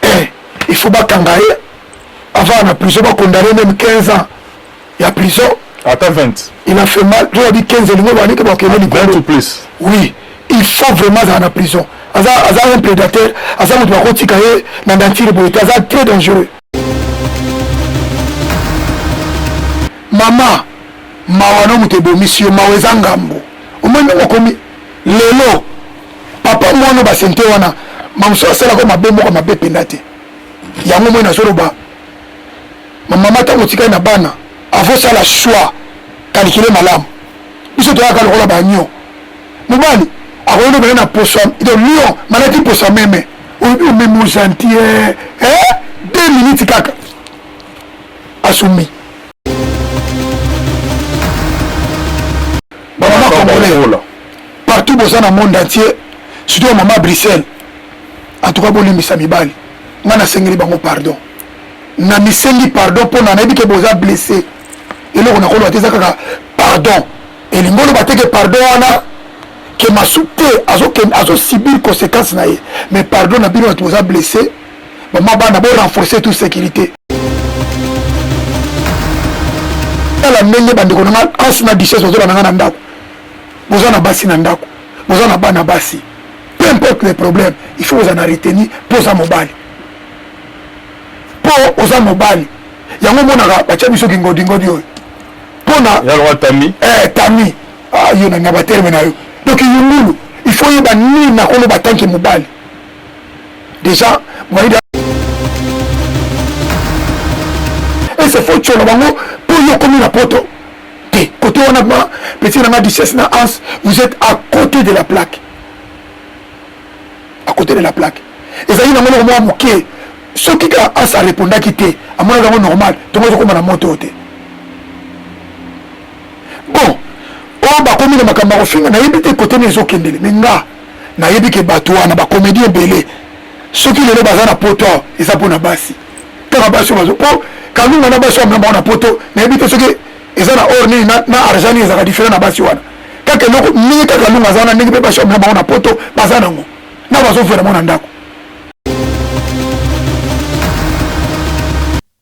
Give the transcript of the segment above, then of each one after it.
eh, il faut bakanga ye avant na prison bakondane meme 15 ans ya prison ata 20 il a fait mal to yabi 15 elingo banike bakende likolo plus oui il faut vraiment azala na prison aza aza un prédateur aza moto bakotika ye na dantire boye te aza très dangereux mama mawa no moto ebomisi yo mawa eza ngambo omoni ndenge okomi lelo papa mwana basente wana mamosu asalaka mabe moko mabe mpenza te yango moi nazoloba mamama ntango otikali na bana avosala choix kalikile malamu biso toyaka lokola banio mobali akoki lobela na poso donc lion malaki poso meme oyebi omemi ogentie eh, deux minutes kaka asumi bamama congolais partout boza na monde entier surtout mama bruxelles en tout cas bolimbisa mibali ngai nasengeli bango pardon na misengi pardon mpona nayebi ke boza blesse eloko nakoloba te eza kaka pardon elingi oloba te ke pardon wana ke masu te azosibir conséquence na ye mais pardon na bino bato boza blesse bama bana bo renforcer tout sécurité tala ndenge bandeko na nga ansu na duchesse bazolanda nga na ndako boza na basi na ndako boza na bana basi peu importe le problème il faut oza na reteni mpo oza mobali mpo oza mobali yango omonaka batya biso kingodingodi oyo mpona tami eh, tami ah, yo na baterme na yo donc yungulu il faut yeba nini nakoloba tanke mobali deja moyen ese fo tsholo bango mpo yo okomi na poto te kote wana ma petit na nga duchesse na ans vous êtes à côté de la plaque à côté de la plaque ezali nango noko mwa moke soki ka ans arepondaki te amonaki yango normal tongo ezokoma na moto te bon oyo bakomi na makambo ya kofinga nayebi te kote na ezokendele me nga nayebi ke bato wana ba comédien ebele soki lelo baza na poto awa eza mpo na basi kaka basi bazo mpo kalunga na basi wamna bango na poto nayebi te soki eza na or nini na argent nini ezalaka diferent na basi wana kaka eloko ndenge kaka kalunga aza wana ndenge mpe basi wamna bango na poto baza nango na bazofela bango na ndako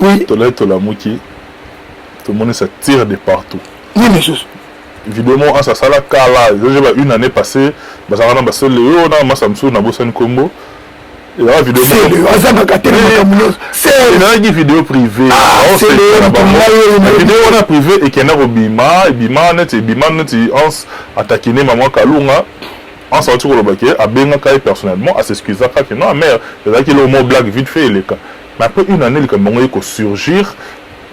oui. tolai tolamuki tomonisa tire de partout nini lisusu video moko ansa asala kala ezozeba une année passée bazalaka na basele yo na masa mosusu nabosani nkombo azangaka te namonaki video privévideo wana privé ekenda kobima ebima neti ebima neti ans atakine mama kalunga ans awati koloba ke abengaka ye personnellement asexcusaka ke non amere ezalaki eloko mo blague vite fait eleka mais après une année likambo yango ye kosurgir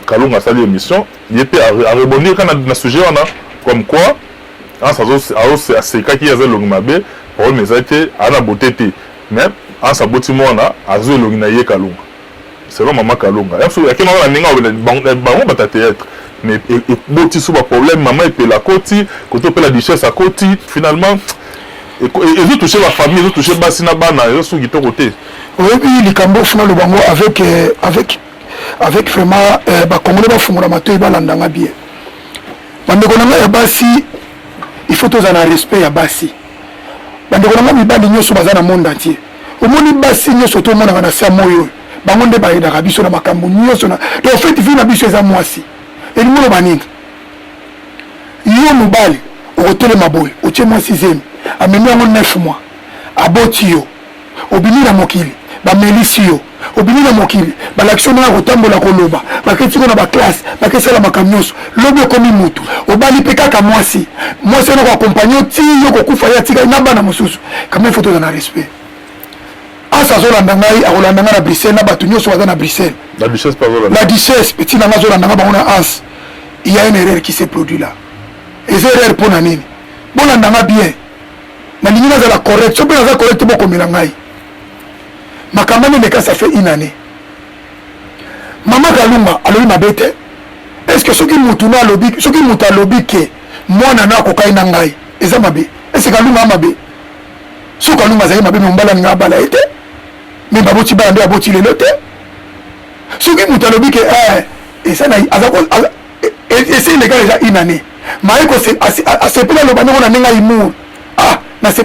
kalunga asali émission ye mpe arebondir kaka na sujet wana comme quoi ans asekaki ye aza elongi mabe problème ezali te aza na bote te Mais Hans aboti mwana azua elongi na ye kalunga selon maman kalunga ya so yake mama na ninga obela bango bango bata theatre mais eboti so ba problème maman epela akoti koto opela duchesse akoti finalement ezo toucher ba famille ezo toucher basi na bana ezo suki toko te oyebi likambo funa loba ngo avec euh, avec avec vraiment euh, ba congolais ba fungola matoyi balanda nga bien bandeko na ngai ya basi il faut tozala na respect ya basi bandeko na ngai mibali nyonso baza na monde entier omoni basi nyonso tomonaka na se ya moi oyo bango nde bayedaka biso na makambo nyonso na donc feti vi na biso eza mwasi elingi oloba nini yo mobali okotelema boye otie mwasi zemi amemi yango 9 mois aboti yo Obimi na mokili bamelisi yo, obimi na mokili balakisi yo ndenge ya kotambola, koloba, baketi ngo na baklasse, baketi sala makambo nyonso. Lobi okomi mutu, obali mpe kaka mwasi, mwasi wana koakompanye yo ti yo kokufa, ye atikali na bana mosusu. Kama ifo tozala na respect. Asa azolanda ngai, akolanda ngai na Bruxelles, na bato nyonso baza na Bruxelles. La duchesse mpe azolanda. La duchesse mpe tina ngai azolanda ngai bango na Hans. Il y a une erreur qui s'est produit là. Eza erreur mpo na nini? Bolanda ngai bien. nalingi nazala correct so mpe naza correct bokomela ngai makambo ane meka ça fait une année mama kalunga alobi mabe te est ce que soki mutu no alobi soki mutu alobi ke mwana no akokai na ngai eza mabe est ce kalunga mabe so kalunga azali mabe me mombala alinga abala ye te me baboti bana nde aboti lelo te soki mutu alobi ke eh, eza na esi eleka deja une année maye asepeli aloba ndenge na ndenge aimour ah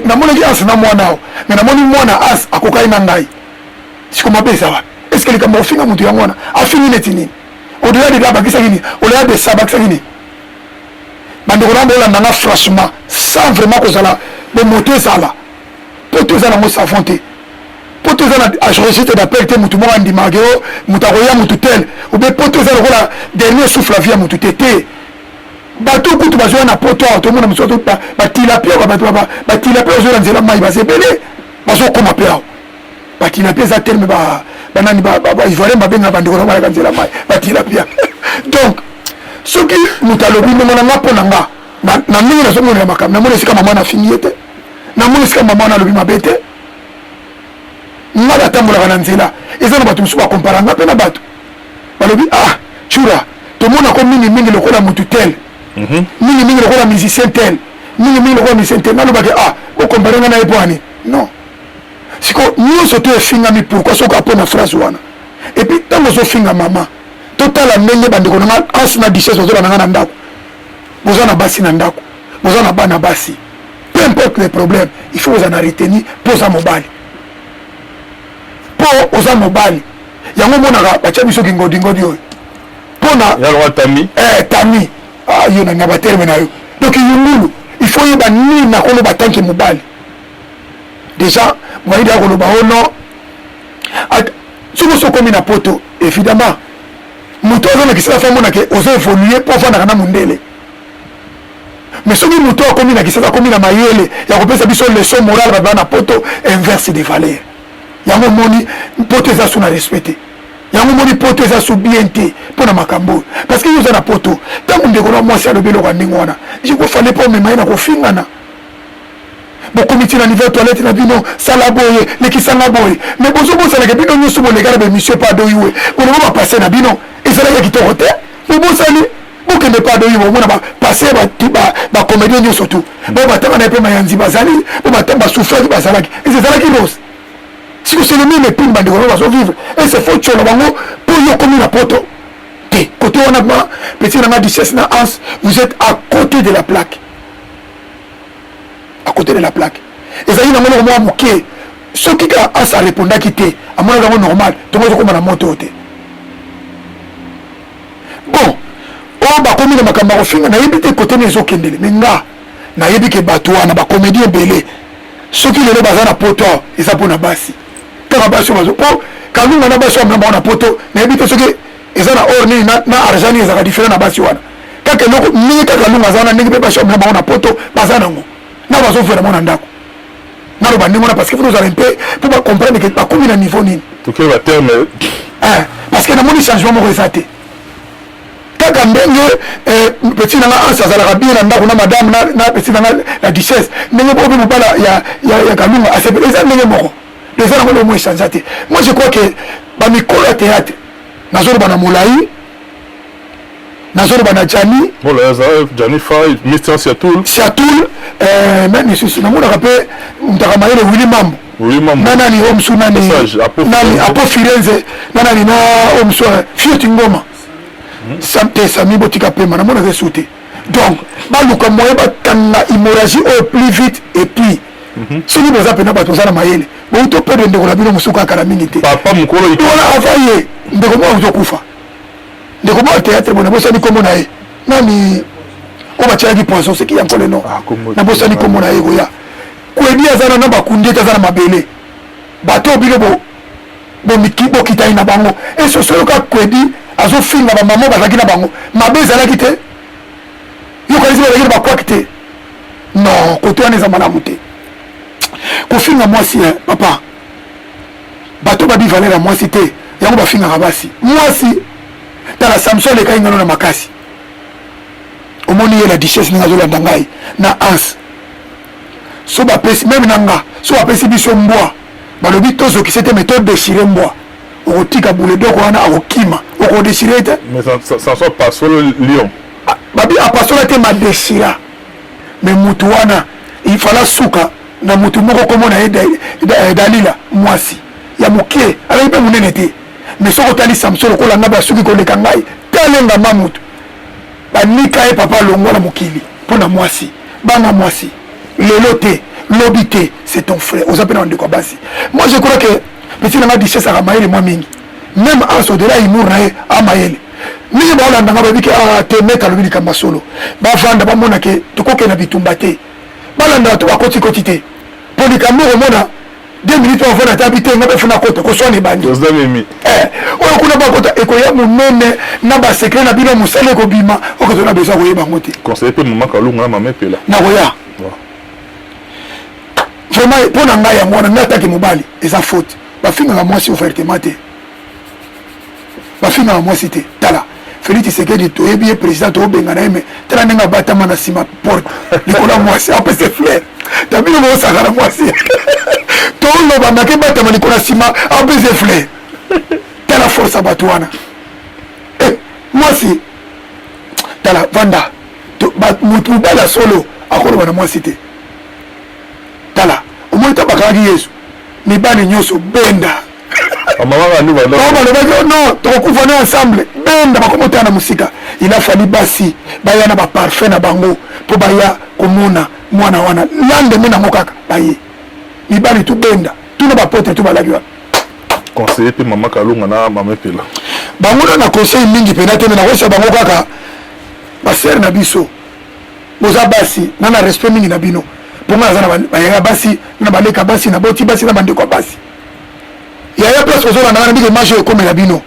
namonaki anse na mwana ao me namoni mwana anse akokaki na ngai siko mabe eza wapi eske likambo ofinga moto yango wana afingi neti nini odela deda abakisaki nini olela desa abakisaki nini bandeko na bolanda nga franchement sans vraiment kozala bomoto ezala mpo toza nango savon te mpo toza na registre d'appel te motu moko andimaka ke o moto akoya motu tel obe mpo toza lokola dernier souffle ya vie ya motu te te bato kutu bazoya na poto awa tomona mosusu batilapia batilapia bazoya na nzela mai baza ebele bazokoma mpe awa batilapia eza terme banani baivoirien babenga bandeko na bayaka nzela mai batilapia donc soki moto alobi ndongo na nga mpo na nga na ndenge nazomonela makambo namoni esika mama nafingi ye te namoni esika mama wana alobi mabe te nga natambolaka na nzela eza na bato mosusu bakompara nga mpe na bato balobi ah cura tomonako mingimingi lokola motu tel mhm. mingimingi lokola musicien tel mingimingi lokola musicien tel nalobaki ah okompare nga na ye mpo ani non siko nyonso to efingami pourkui soki apo na phrase wana epuis ntango ozofinga mama totala ndenge bandeko na nga anse na duchesse bazolanda nga na ndako boza na basi na ndako boza na bana basi peu importe les problèmes il faut ozala na retenu mpo oza mobali mpo oza mobali yango omonaka batya biso kingodingodi oyo mpona tami eh, tami ah, yo nanga baterme na yo donc yungulu il faut yeba nini nakoloba tanke mobali déjà moyidi akoloba o oh non soki osi okomi na poto évidemment moto azolakisela fa monake ozo évolue mpo ofandaka na mondele mais soki moto oyo akomi na kisasa akomi na mayele ya kopesa biso leçon morale bato baa na poto inverse de valeur yango omoni poto eza su na respect te yango omoni poto eza su bien te mpo na makambo oyo parce que yo oza na poto ntango ndeko na mwasi alobi eloko ya ndenge wana ekofale mpo omema ye na kofingana bokomiti na niveau toilette na bino sala boye lekisanga boye mais bozobosanaka bino nyonso bolekana baemission pa adoyue bolobo bapase na bino ezalaki ya kitoko te bobosani bokende mpe adongi bomona bapase bacomédien nyonso tu bo batanga na ye mpe mayanzi bazali bo basufraki bazalaki ese ezalaki rose siko c'est le même epine bandeko bango bazovivre ese fo tsholo bango mpo yo okomi na poto te kote wana ma petit nanga duchesse na ans vous êtes à côté de la plaque à côté de la plaque ezalaki nango noko mwa moke soki kaka ans arepondaki te amonaki yango normal tongo ezokoma na moto te bon oyo oh, bakomi na makambo ya kofinga nayebi te kote na ezokendele me nga nayebi ke bato wana bakomedi ebele soki lelo baza na poto eza mpo na basi kaka basi bazo mpo oh, kalunga na basi wana bango na poto nayebi te soki eza na or nini na argent nini ezalaka diferent na basi wana kaka eloko mingi kaka kalunga aza wana ndenge mpe basi wana bango na poto baza nango na bazovela bango na ndako naloba ndenge wana parce que fona ozala mpe mpo bacomprendre ke bakomi na niveau nini tokeba terme eh, parce que namoni changement moko eza te kaka ndenge eh, petit nanga anse azalaka bien na ndako na madame na petit nanga la duchesse ndenge bobe mobala ya kalunga asepela eza ndenge moko eza nango lomo echange te moi je crois que bamikolo ya théâtre nazoloba na molai nazoloba na jani jani fai mister siatul siatul eh, nani lisusu namonaka mpe mtaka mayele wili mambo na nani oyo mosu nani nani apo firenze na nani na oyo mosu fioti ngoma hmm. samte sami botika pema namonaka esu te donc baluka moyen batanga immorragie oyo plus vite et puis mhm. soki boza mpena bato boza na mayele bouto perdre ndeko na bino mosuku akala mingi te papa mokolo wana ava ye ndeko moko azokufa ndeko boa théâtre boye nabosani nkombo na ye nani oyo batyalaki poison seki ya nkole no ah, nabosani nkombo na ye koya kwedi aza na na bakundi ete aza na mabele bato oyo bino bokitani na bango esoso yoka kwedi azofinga bamama bazalaki na bango mabe ezalaki te yokanisi bazalaki na bakwaki te non koto wana eza malamu te kofinga mwasi eh, papa bato babi valeur ya mwasi te yango bafingaka basi mwasi tala samson alekaki ngano na makasi omoni ye la duchesse ndenge azolanda ngai na anse so bapesi meme na nga so bapesi biso mbwa balobi tozokise te me todeshire mbwa okotika buledoko wana akokima okodeshire te ah, babi apasola te madeshira me mutu wana ifala suka na moto moko kombo na ye eh, dalila mwasi ya moke azali mpe monene te mais soki otali samson lokola ngai basuki koleka ngai talenga ma moto banika ye papa alongwa na mokili mpo na mwasi banga mwasi lelo te lobi te c'est ton frère oza mpe na bandeko ya basi moi je crois que petit na ngai disesaka mayele mwa mingi meme as odela humour na ye amayele mingi baolandanga bayebi ke ah, te meta alobi likambo ya solo bavanda bamona ke tokokende na bitumba te balandaka to bakotikoti te mpo likambo okomona deux minutes wavona ata bite nga bafuna kota koswana ebandi eh, oyo kuna bakota ekoya monene na basekre na bino mosala ekobima okozona besoin koyeba yango te conseil mpe mama kalunga na mama epela nakoya vraiment mpo na ngai yango wana ngai atake mobali eza faute bafingaka mwasi ouvertement te bafingaka mwasi te tala Félix Tshisekedi toyebi ye président tobengana ye me tala ndenge abatama na nsima porte likolo ya mwasi apese flaire tabino boosaka na mwasi toloba ndake batama likolo ya nsima apese flaire tala force ya bato wana eh, mwasi tala vanda moto mobali ya solo akoloba na mwasi te tala omoni tabakaki yesu mibali nyonso benda balobaki oh non tokokufa na ensemble benda bakomotana na mosika il a fali basi baya na baparfum na bango mpo baya komona mwana wana landeme nango kaka baye mibali tobenda tuna bapotre to balaki wana conseiller mpe mama kalonga na mama epela bango na na conseil mingi mpenza te me nakosa bango kaka basere na biso boza basi na na respect mingi na bino mpo ngai naza na bayaya basi na baleka basi na boti basi na bandeko ya basi yaya place ozolanda wana ndenge image oyo ekomela bino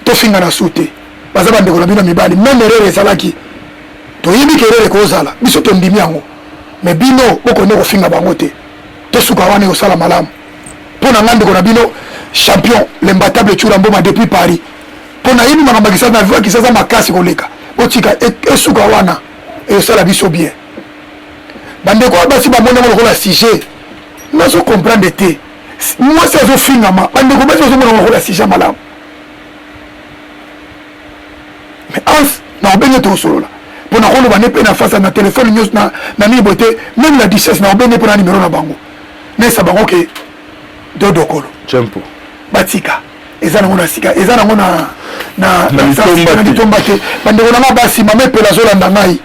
tofinga na su te baza bandeko na bino mibali meme erere ezalaki toyebi ke erere ekozala biso tondimi yango me bino bokonde kofinga bango te tosuka wana ekosala malamu mpo na ngai ndeko na bino champion lembatable cura mboma depuis paris mpo nayebi makambo ya kisasa na viwa kisasa makasi koleka botika e, esuka wana ekosala biso bien bandeko ya basi bamoni yango lokola sujet nazo comprendre te mwasi azofingama bandeko basi bazomona makola sija malamu mais ans naobenge tosolola mpo nakoloba ne mpe na fasa na telefone nyonso na nini boye te meme na duchesse naobenge mpo na nimero na bango nayesa bango ke dodokolo cempo batika eza nango na sika eza nango na na litomba te bandeko na ngai basi mama epela azolanda ngai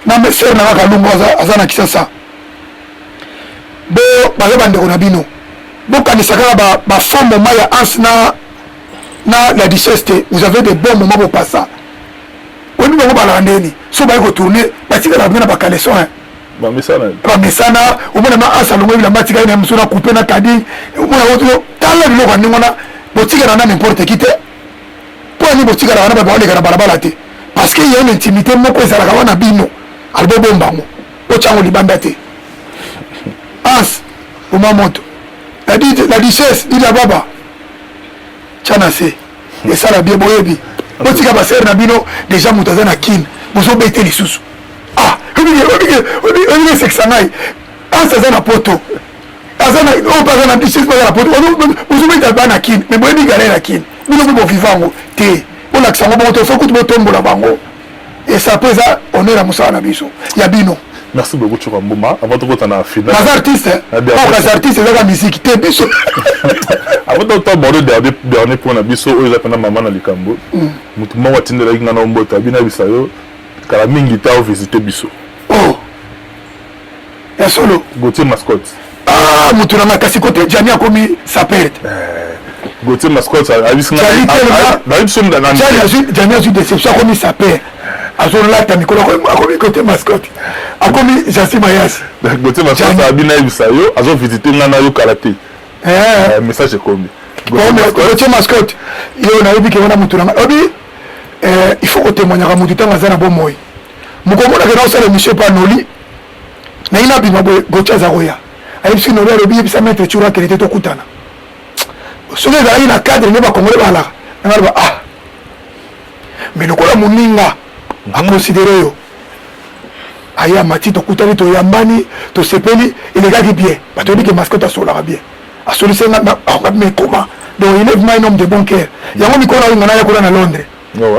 na mesere na ngai kalungu aza na kisasa bo baza bandeko na bino bokanisa kaka ba, ba faux moment ya ans na na la duchesse te vous avez des bons moments bopasa oyebi bango balaka ndeni so baye kotourne batikalaka bino na bakaleson bamesana bamesana omona ma ans alongo bilamba atikali na mosu na coupe na kadi omona oyo tala biloko ya ndenge wana botikala na n'importe qui te mpo ani botikalaka na babaoleka na balabala te parce que ya une intimité moko ezalaka wana bino alibobombango Otia yango libanda te. Ans, boma moto. La, la duchesse, dit la baba. Tia na se. Esala bien boyebi. Botika ba sœur na bino déjà moto aza na kin. Bozo bete lisusu. Ah, obi obi obi obi sekisa ngai. Ans aza na poto. Aza na oyo aza na duchesse aza na poto. Bozo beta bana kin. Mais boyebi galère kin. Bino bo vivango te. Bolakisa ngo bongo to sokutu botombola bango. esapo eza honneur ya mosala na biso ya bino merci beaucoup coka mbuma avant tokota na finalbaza artiste baza artiste ezaka miziki te biso avant tokota aborde dernier point na biso oyo eza mpena mama na likambo mm. motu moko atindelaki ngai na omboto abinabisa yo kala mingi ta ovisite biso ya solo gautier mascotte ah moto na ngai kasi kote jani akomi sapere te gautier mascotte abisinajani azwi déception akomi sapere azolata mikolo akomi kote mascotte akomi jasi mayasi gautier mascotte abi nayebisa yo azovisite ngai nayo kala te message ekomi gautier mascotte yo nayebi ke wana moto na ngai obi il faut kotemoignaka moto ntango aza na bomoi mokomona kena osala emission epa noli naye nabima boye gocha aza koya ayebisi noli alobi yebisa maître cura akende te tokutana soki ezalaki na cadre nde bakongole balaka nanga loba ah mais lokola moninga mhm. aconsidere yo aye amati tokutani toyambani tosepeli elekaki bien bato yebi ke mascote asolaka bien asolisi nga me ekoma donc il est vraiment un homme de bon cœur yango mikolo ayo nga nayakola na londres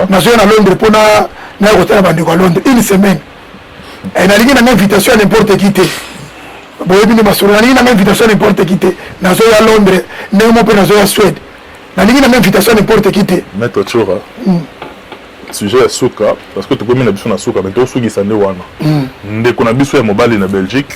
nazoya na londres mpo naya kotala bandeko ya londres une semaine eh, nalingi nanga invitation ya n'importe qui te boyebi nde masolo nalingi nanga invitation ya n'importe qui te nazoya londres ndenge mo mpe nazoya swede nalingi nanga invitation ya n'importe qui te maître chora hmm. sujet ya suka parce que tokomi na biso na suka me tosukisa nde wana hmm. ndeko na biso ya mobali na belgique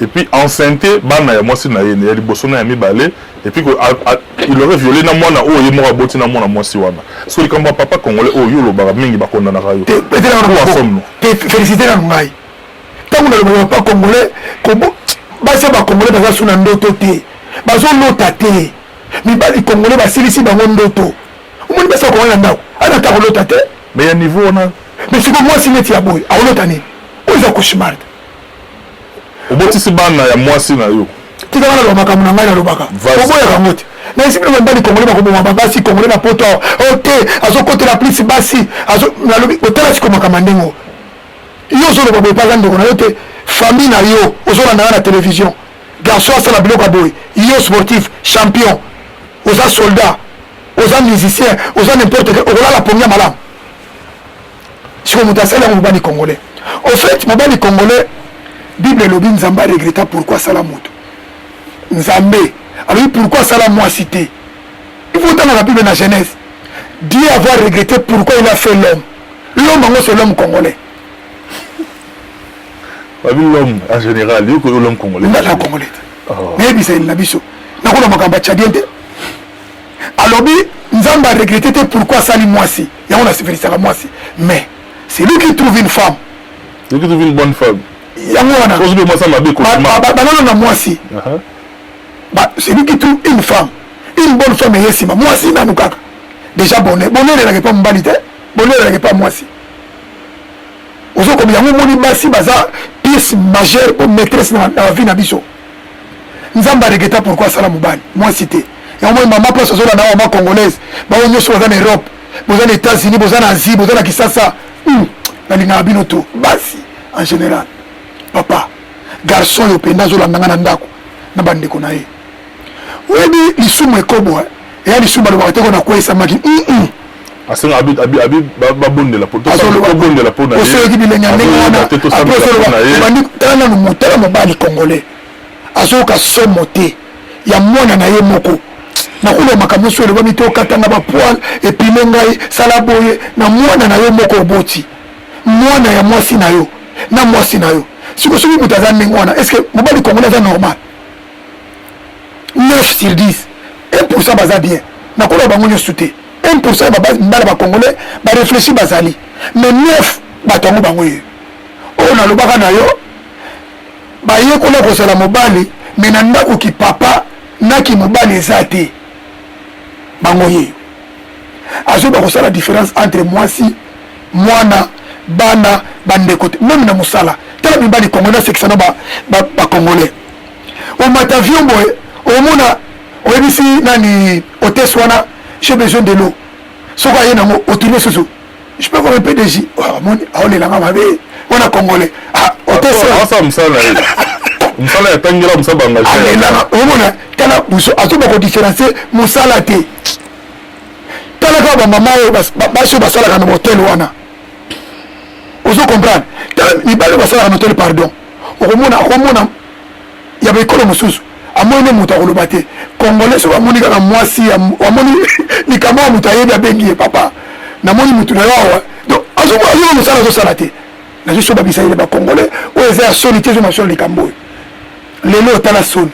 et puis enceinte bana ya mwasi na ye ya liboso na ya mibale et puis il aurait violé na mwana oyo ye moko aboti na mwana mwasi wana so likambo ya papa congolais oyo yo olobaka mingi bakondanaka yo félicité na ngai ntango nalobaka papa congolais basi ya bacongolais baza so na ndoto te bazolota te mibali congolais basilisi bango ndoto omoni basi ya congolais na ndako anata akolota te mais ya niveau wana mais siko mwasi neti ya boye akolota nini oyo eza cauchemar te obotisi bana ya mwasi na yo tika wana loba makambo na ngai nalobaka oboyaka yango te na esika na mobali kongole bakoboma babasi kongole na poto awa oh, ote azokotela plisi basi nalobi otala siko makambo ya ndenge yo ozoloba boye mpaza ndeko na yo te famille na yo ozolanda nga na télévision garçon asala biloko ya boye yo sportif champion oza soldat oza musicien oza n'importe okolala pongi ya malamu siko moto asali yango mobali congolais au fait mobali congolais bible elobi nzambe aregreta pourkui asala moto nzambe alobi pourkui asala mwasi te ifo otangaka bible na genèse dieu avoir regrete pourkui il a fait l'homme l'homme yango c'est l'homme congolais babi l'homme en général yoko yo l'homme congolais nga la congolais te oh. nayebisa yeli na biso nakona makambo ya cadien te alobi nzambe aregrete te pourkui asali mwasi yango na sepelisaka mwasi mais c'est lui qui trouve une femme lui qui trouve une bonne femme yango wana ozwi mwasi mabe banana na mwasi c'est lui qui trouve une femme une bonne femme eye nsima mwasi nanu kaka déjà bonheur bonheur elaka epa mobali te bonheur elaka epa mwasi ozokomi yango omoni basi baza pièce majeure po maîtresse na vie na biso nzambe aregreta pourkui asala mobali mwasi te yango moi mama place ozola na mama congolaise bango nyonso baza na europe boza na états-unis boza na asie boza na kisasa hmm. nalingaka bino to basi en général papa garçon oyo mpenza azolanda nga na ndako na bandeko na ye oyebi lisumu ekobo eh? eya lisumu balobaka te ko nakweyisamaki asenga babondela tobondela mpo nayeosoyoki bilenge ya ndenge wana apres osoloba obandi tala nanu motala mobali congolais azoyoka somo te ya mwana na ye moko nakoloba makambo nyonso elobami te okatanga bapoile epine ngai sala boye na mwana na yo moko oboti mwana ya mwasi na yo na mwasi na yo siko soki moto aza ndenge wana estce mobali congolais aza normal 9 sur 10 1% baza bien nakoloba bango nyonso te 1% ya babala bacongolais bareflechi bazali mais 9 bato yango bango ye oyo nalobaka na yo bayekola kozala mobali me na ndako kipapa na kimobali eza te bango ye azoyeba kosala différence entre mwasi mwana bana bandeko te meme na mosala tala mibali congolais asekisa na bacongolais ba, ba omata avion boye omona oyebisi nani hotesse wana j'ai besoin de l'eau soki aye nango otuni esusu je peux avoir un peu de jus amoni oh, aolelanga mabe wana congolais ah, hotesse mosala yatangela mosala bangaelanga omona tala buso azoba kodifferencie mosala te tala kaka bamama oyo basi oyo basalaka na hotel wana ozo comprendre tala mibali oyo basalaka na hotel pardon okomona akomona ya baekolo mosusu amoni nde moto akoloba te congolais soki amoni kaka mwasi amoni likambo ya moto ayebi abengi ye papa namoni motu na yo awa donc azomona mosala azosala te nazosoba bisalela bacongolais oyo eza ya soni te ezomasolo likambo oyo lelo otala soni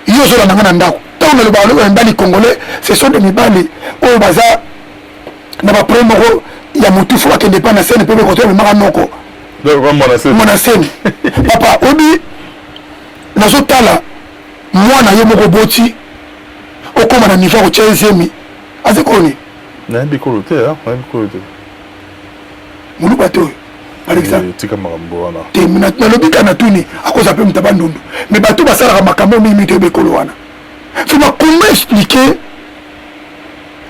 yo ozolanda nga na ndako ntango nalobaka lokola mibali congolais ce sont de mibali oyo baza na baproblème moko ya motufu bakende epai na sene mpe bekoto bamemaka noko mwana semi papa obi nazotala mwana yo moko boti okoma na niveau akotya ezemi aza koni nayebi kolo te nayebi kolo te moluba te oyo alekisa eh, tika makambo wana te nalobi ka natuni akoza mpe moto ya bandundu me bato basalaka makambo mingi mito yeba ekolo wana so bakoma explike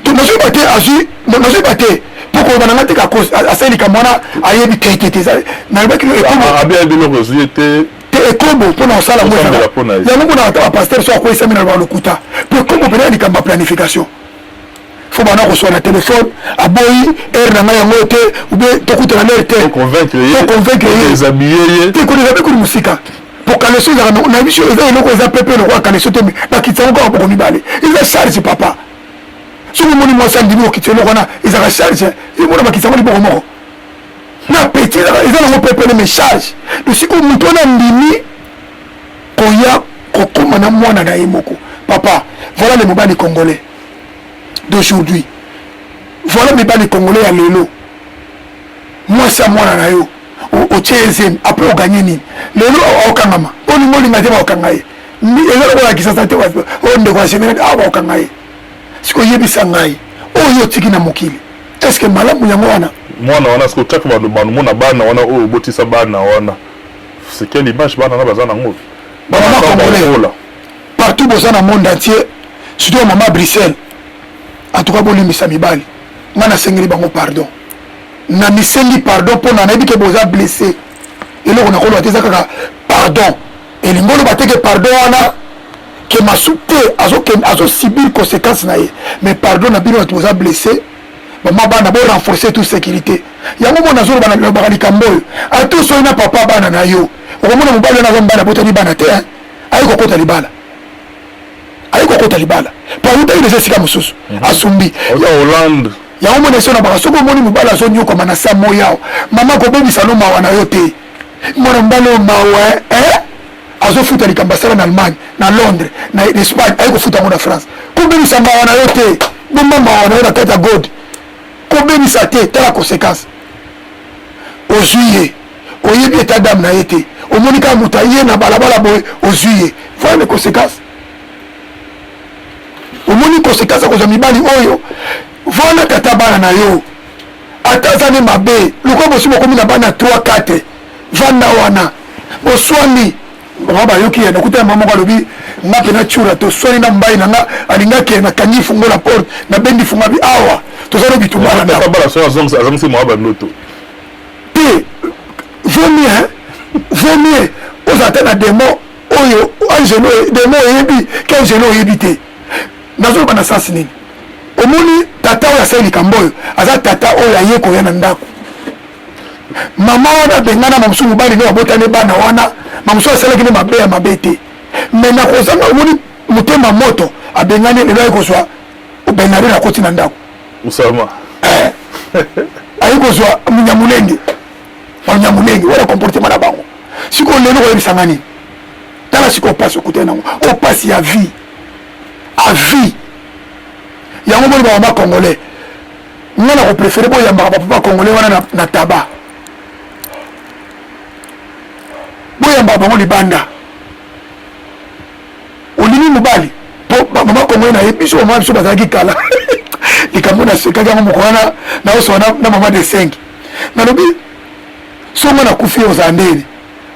to nazwi ba te azwi nazwi ba te mpo koloba na ngai te kakos asali likambo wana ayebi te te te nalobaki no ekobo ah, ah, abi ayebi eloko ozwi ye te te ekobo mpo na kosala ngo yango mpo na ata bapaster so akweyisami na loba lokuta mpo ekobo mpenza likambo ya planification fo bana koswa na telefone aboyi heure na ngai yango te obe tokutana na heure te toconvaincre ye te kodezabe kuli mosika po kaleso ezaka na biso eza eloko eza pepe lokola kaleso te bakitisa yango kaka boko mibale eza charge papa soki omoni mwasi andimi okitisa eloko wana ezaka charge emona bakitisa yango liboko moko na peti eza nango pepele me charge tosiko moto wana andimi koya kokoma na mwana na ye moko papa voilà le mobali congolais d'aujourd'hui voilà mibali congolais ya lelo mwasi ya mwana na yo otie ye zemi apres oganye nini lelo okangama olingi olinga te baokanga ye eza lokola ya kisasa te oyo ndeko ya general awa baokanga ye sikoyo yebisa ngai oyo otiki na mokili eske malamu yango wana mwana wana sikoyo kaka bamona bana wana oyo obotisa bana wana c'est quelle image bana wana baza nango bamama congolais partout boza na monde entier surtout ya mama bruxelles en tout cas bolimbisa mibali ngai nasengeli bango pardon na misengi pardon pona nayebi ke boza blesse eloko nakoloba te eza kaka pardon elingi oloba te ke pardon wana ke masu te azosubir conséquence na ye mais pardon na bino bato boza blesse mama bana bo renforcer tout sécurité yango mona azoloba nalobaka likambo oyo atu soki na papa bana na yo okomona mobali wana aza mobali abotani bana te aye kokota libala aye kokota libala po awutaki deja esika mosusu mhm. asumbi hollande yango mona esi olobaka soki omoni mobali azonyokwama na sa moyao mama kobebisa no mawa na yo te mwana mobali oyo mawa eh? azofuta likambo asala na allemagne na londres na espagne aye kofuta yango na france kobebisa mawa na yo te bomba mawa na yo na kati ya gode kobebisa te tala conséquence ozwi ye oyebi eta dame na ye te omoni kaka moto aye na balabala boye ozwi ye voye les conséquences omoni koseka aza kozwa mibali oyo vana tata bana na yo ata aza nde mabe lokola bosi bokomi na bana 3 4 vanda wana boswani bango bayoki ye nakuta mama moko alobi nga mpe natyura toswani na mobali na nga alinga kee nakangi fungo na porte nabendi funga bi awa toza no bitumbana azongisi mwa bandoto te vaut mieux vaut mieux ozala ata na demo oyo angelo demo oyebi ke angelo oyebi te nazoloba na sansi nini omoni tata oyo asali likambo oyo aza tata oyo aye koya na ndako mama wana abengana mamosusu mobali nde babotani bana wana mamosusu asalaki nde mabe ya mabe te me na kozanga omoni motema moto abengani lelo aye kozwa benari na koti na ndako osama eh. aye kozwa munyamulenge banyamulenge wana comportement na bango sikoyo lelo koyebisa nga nini tala sikoyo mpasi okutani nango o mpasi ya vie a vie yango moni bamama congolais nga na koprefere boyambaka bapapa congolais wana na, na taba boyambaka bango libanda olingi mobali po bamama congolais na ye biso bamama biso bazalaki kala likambo nasekaki yango moko wana naosoa na mama de 5 nalobi songa na kufi ozala ndeni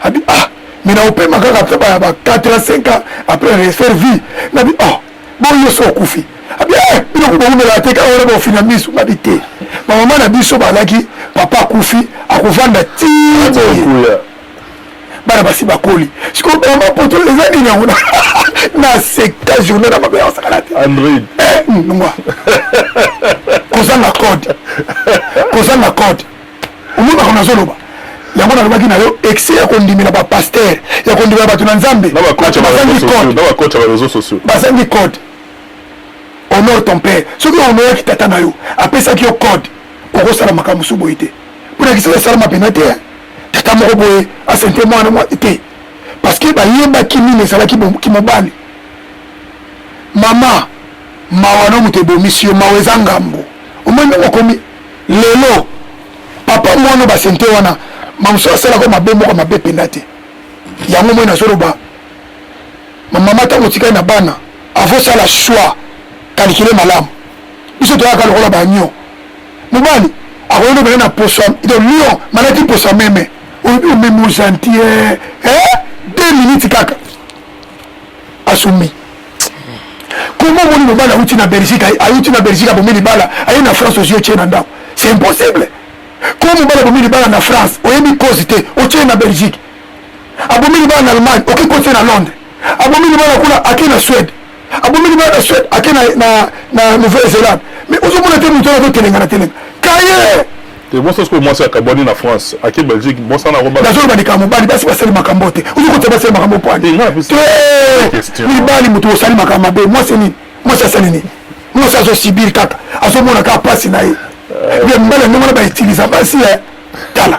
abi ah mais naopema kaka apres ba 4 ans 5 ans apres refaire vie nabi oh boyo so okufi abi eh biloko bowumelaka te kaka wana baofina miso babi te bamama na biso balaki papa akufi akovanda ti boye bana basi bakoli sikoyo bama poto eza nini yango na seka journée na mabe ya wasakala te android eh, nwa kozanga code kozanga code omonaka nazoloba yango nalobaki na yo excès ya kondimela bapaster ya kondimela bato na nzambe bazangi code bazangi code honore ton père soki ohonoraki tata na yo apesaki yo code okosala makambo mosusu boye te mpo na kisala esalama mpena te tata moko boye asente mwana mwa te parce que bayebaki nini ezalaki kimobali mama mawa no moto ebomisi yo mawa eza ngambo omoi ndenge okomi lelo papa mwana basente wana mamosusu asalaka mabe moko mabe mpenza te yango moi nazoloba mamama ntango otikali na bana avosala choix kalikile malamu biso toyaka lokola banyo mobali akoki nobela na posa de lion malaki posa meme olobi omeme ojantie eh, eh, deux minutes kaka asumi comment omoni mobali awuti na belgique awuti na belgique abomi libala aye na france ozwi otie na ndako c'est impossible comment mobali abomi libala na france oyebi cause te otie na belgique abomi libala na allemagne oke kotie na londres abomi libala kuna ake na suède abomeli bana na suède ake na nouvelle zélande mais ozomona te moto wana totelenga na telenga kaye ebonsa sikoyo mwasi akabwani na france ake belgique bosana kobazoloba likambo mobali basi basali makambo te ozokotia basali makambo pwani mibali moto osali makambo mabe mwasi nini mwasi asali nini mwasi azosibir kaka azomona kaka mpasi na ye eh. mibali yango wana bautiliza basi eh. tala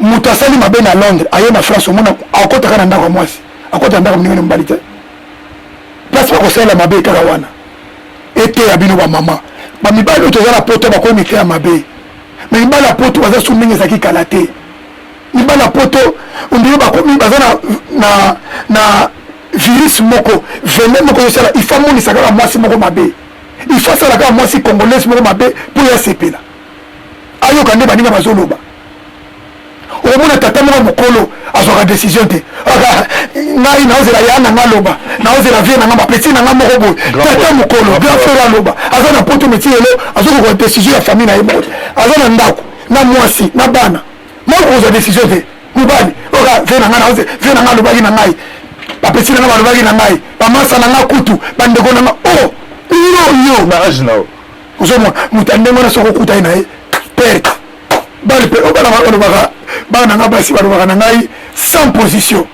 moto asali mabe na londres aye na france omona akotaka na ndako ya mwasi akota na ndako moninga na mobali te place bakosalela mabe kaka wana eteya bino bamama bamibali oyo toza na poto bakomi miteya mabe me mibali ya poto baza su ndenge ezalaki kala te mibali ya poto ondire bakomi baza na, na, na virus moko vene moko ezosala ifa amonisa kaka mwasi moko mabe ifa asala kaka mwasi congolaise moko mabe mpo ya sepela ayoka nde baninga bazoloba omona tata moko mokolo azwaka décision te ngai naozela ya na nga loba naozela vie na nga bapeti na nga moko boye tata mokolo grand frère aloba aza na poto meti lelo azokokoa décision ya famille na ye moko aza na ndako na mwasi na bana moko kozwa décision te mobali oka vie na nga naoze vie na nga alobaki na ngai bapeti na nga balobaki na ngai bamasa na nga kutu bandeko na nga o oh, yo yo na age na yo ozomwa moto ya ndenge wana soki okutani na ye perte bale mpe obana oh, balobaka bana na ngai basi balobaka na ngai sans position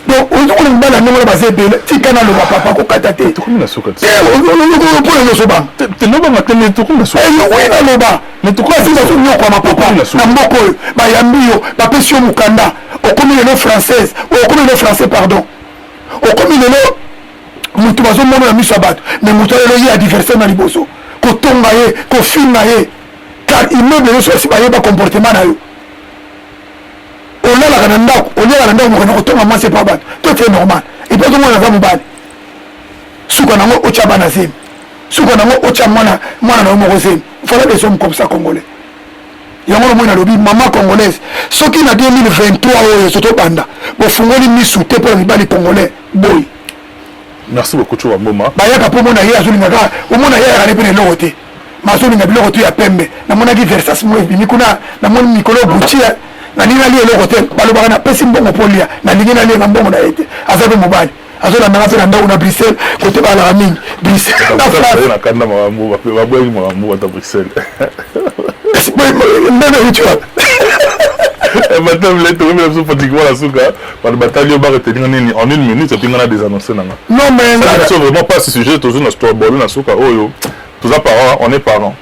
donc ozokona mibali ya ndenge wana baza ebele tika naloba papa kokata te mpona nyonso bangaobanga te meokomi naloba basi bazonyokwama papa na mboka oyo bayambi yo bapesi yo mokanda okomi lelo française okomi lelo français pardon okomi lelo moto bazomona na miso ya bato me moto alelo ye adversaire na liboso kotonga ye kofinga ye car immeuble nyonso basi bayeba comportement na yo olalaka na ndako oliaka na ndako mokana kotonga mwasi epa bato to te normal epa ozomona aza mobali suka nango otya bana zemi suka nango otya mwana mwana na yo moko zemi fala des hommes comme ça congolais yango na moi nalobi mama congolaise soki na 2023 oyo ezo tobanda bofungoli misu te mpo na mibali congolais boye merci beaucoup coba mboma bayaka mpo omona ye azolinga kaka omona ye ayaka ne mpe na eloko te mazolinga biloko te ya pembe namonaki versas mo ebimi kuna namoni mikolo gucci nalingi nalia eloko te balobaka napesi mbongo mpo lia nalingi nalia na mbongo na ye te aza mpe mobali azolandanga mpe na ndako na bruxelles kote balaka mingi bruxelles Bato batali yo ba retenir nga nini en une minute epi nga na desannoncer nanga. Non mais nga biso vraiment pas sujet tozu na store bolo na suka oyo toza parents on est parents.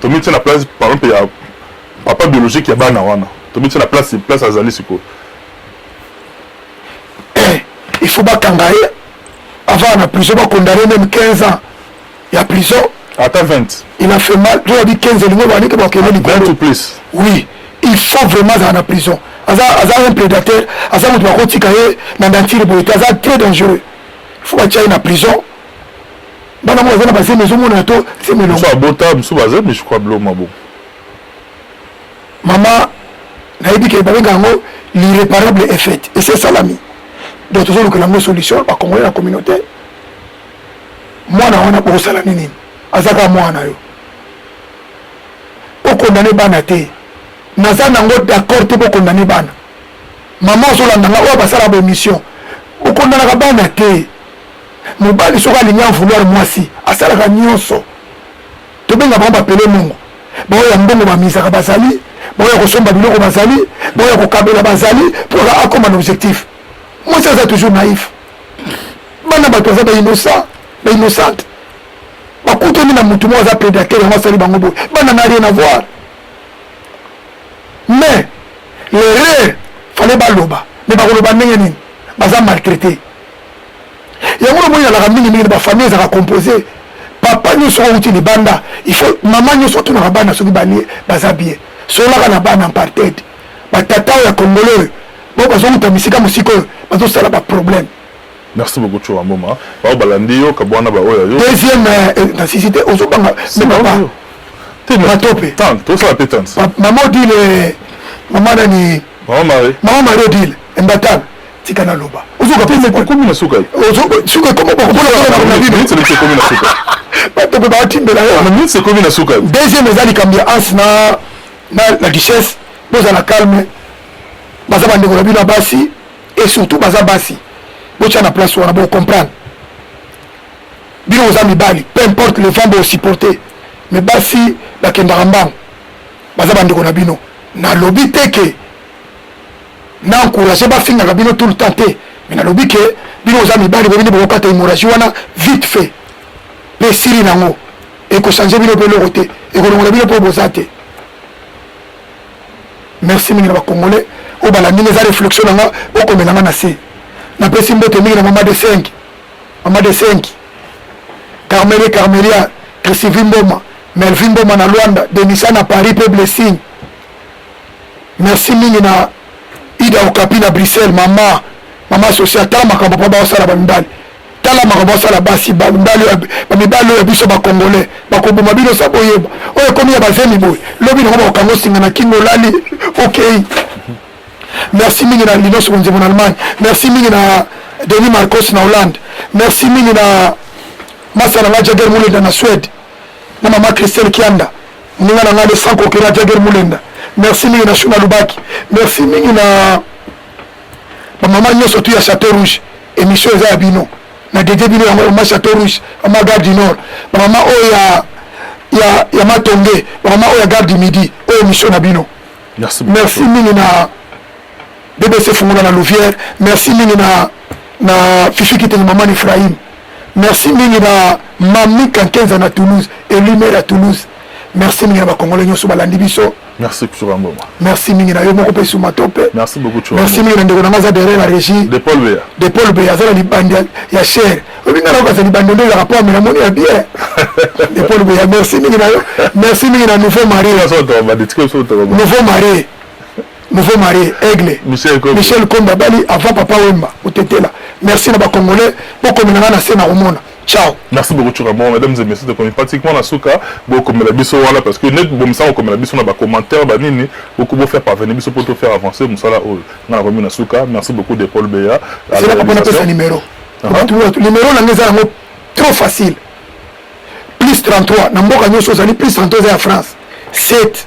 Tomitie na place par exemple ya papa biologique ya bana wana. Tomitie na place place azali sikoyo. Eh, il faut bakanga ye avant na prison ba condamner même 15 ans. ya prison ata 20 il a fait mal to abi 15 lingo ba nike ba kende likolo to place oui il faut vraiment za na prison aza aza un prédateur aza mutu ba kotika ye na dentire boye te aza très dangereux il faut ba tia na prison bana mo aza na baseme zo mona to seme longo so bota musu baza mais je crois blo mabo mama nayebi ke ba benga ngo l'irréparable est faite et c'est salami donc tozolukela yango solution bakongole na communauté mwana wana bokosala nini aza kaka mwana yo bokondane bana te naza nango d'accord te bokondane bana mama ozolanda nga oyo basala baémission bokondanaka bana te mobali soki alingi avouloir mwasi asalaka nyonso tobenga bango bapele mongo baoyo ya mbongo bamizaka bazali baoyo ya kosomba biloko bazali baoyo ya kokabela bazali mpo akoma na objectif mwasi aza toujours naïf bana bato baza ba innocent ba innocente bakutani na motu moko aza prédateur yango asali bango boye bana na rien avoir mais l'erreur fale baloba mais bakoloba ndenge nini baza maltraité yango namoni nalaka mingi mingi na bafamille ezalaka compose papa nyonso oyo outi libanda il faut mama nyonso atunaka bana soki balie baza bien solaka na bana apartheid Ba tata oyo ya congolais oyo ba bazo wuta bisika mosika oyo bazo sala ba problème. Merci beaucoup Tshura Mboma. Baoyo balandi yo kabwana ba oyo yo. Deuxième euh, na sisi te ozo banga mais papa. Te mais tope. Tant to sala pe tant. Maman Odile euh, maman nani? Maman Marie. Maman Marie Odile Mbatana. Tika na loba. Ozo ka pesa ko komi na suka. Ozo suka komi ba ko na na bibi. Minute se komi na suka. Ba to ba timbela yo. Minute se komi na suka. Deuxième ezali kambia ans na na la duchesse bozala calme baza bandeko na bino ya basi et surtout baza basi botya na place wana bocomprendre bino boza mibali peu importe le vent bosupporte me basi bakendaka mbango baza bandeko na bino nalobi te ke na encourage bafingaka bino tout le temps te me nalobi ke bino boza mibali bobini bokokata hémorragie wana vite fait mpe esili nango ekochange bino mpo eloko te ekolongola bino mpo boza te merci mingi na bacongolais oyo balandi nga eza réflexion na nga bokomela nga na se napesi mbote mingi na mama de 5 mama de 5 carmele carmelia christivi mboma melvi mboma na luanda denisa na paris mpe blessing merci mingi na ida okapi na bruxelles mama mama asosi ata makambo mpo baosala bamibali tala makambo asala basi mibali oyo ya biso bacongolais bakoboma bino sa boyeba oyo ekomi ya bazemi boye lobi nango bakokanga osinga na kingo olali okei merci mingi na linos konzembo na allemagne merci mingi na denis marcos na hollande merci mingi na masa na ngai jager mulenda na suède na mama christelle kianda moninga na ngai de sans kokela jager mulenda merci mingi na shuna lubaki merci mingi na bamama nyonso tu ya chateau rouge Emission eza ya bino na dede bino yango ma chateau rouge ma gare du nord ba mama oyo ya ya ya matonge ba mama oyo ya gare du midi oyo emission na bino merci merci mingi na bbc fungola na louvière merci mingi na na fifi kitenge maman Ephraim merci mingi na mami kankenza na Toulouse elumere ya Toulouse merci mingi na bakongole nyonso balandi biso Merci Tshoura Mboma. Merci mingi na yo moko pe suma tope. Merci beaucoup Tshoura. Merci mingi na ndeko na nga za derrière la régie. De Paul Beya. De Paul Beya za li bandi ya cher. Obi nga loka za li bandi ndola rapport mais na moni ya bien. De Paul Beya merci mingi na yo. Merci mingi na nouveau mari. Nouveau mari. Nouveau mari Aigle. Michel Komba. Michel Komba bali avant papa Wemba otetela. Merci na ba congolais. Boko minanga na sena omona. Ciao. Merci beaucoup Tchoura Bon, mesdames et messieurs, tokomi pratiquement na suka bokomela biso wana parce que net bomisa kokomela biso na ba commentaires ba nini boko bo faire parvenir biso pour to faire avancer musala oyo. Na nakomi na suka. Merci beaucoup de Paul Beya. C'est là qu'on appelle ça numéro. Uh -huh. Numéro na ngeza yango trop facile. Plus 33 na mboka nyoso ozali plus 33 eza ya France. 7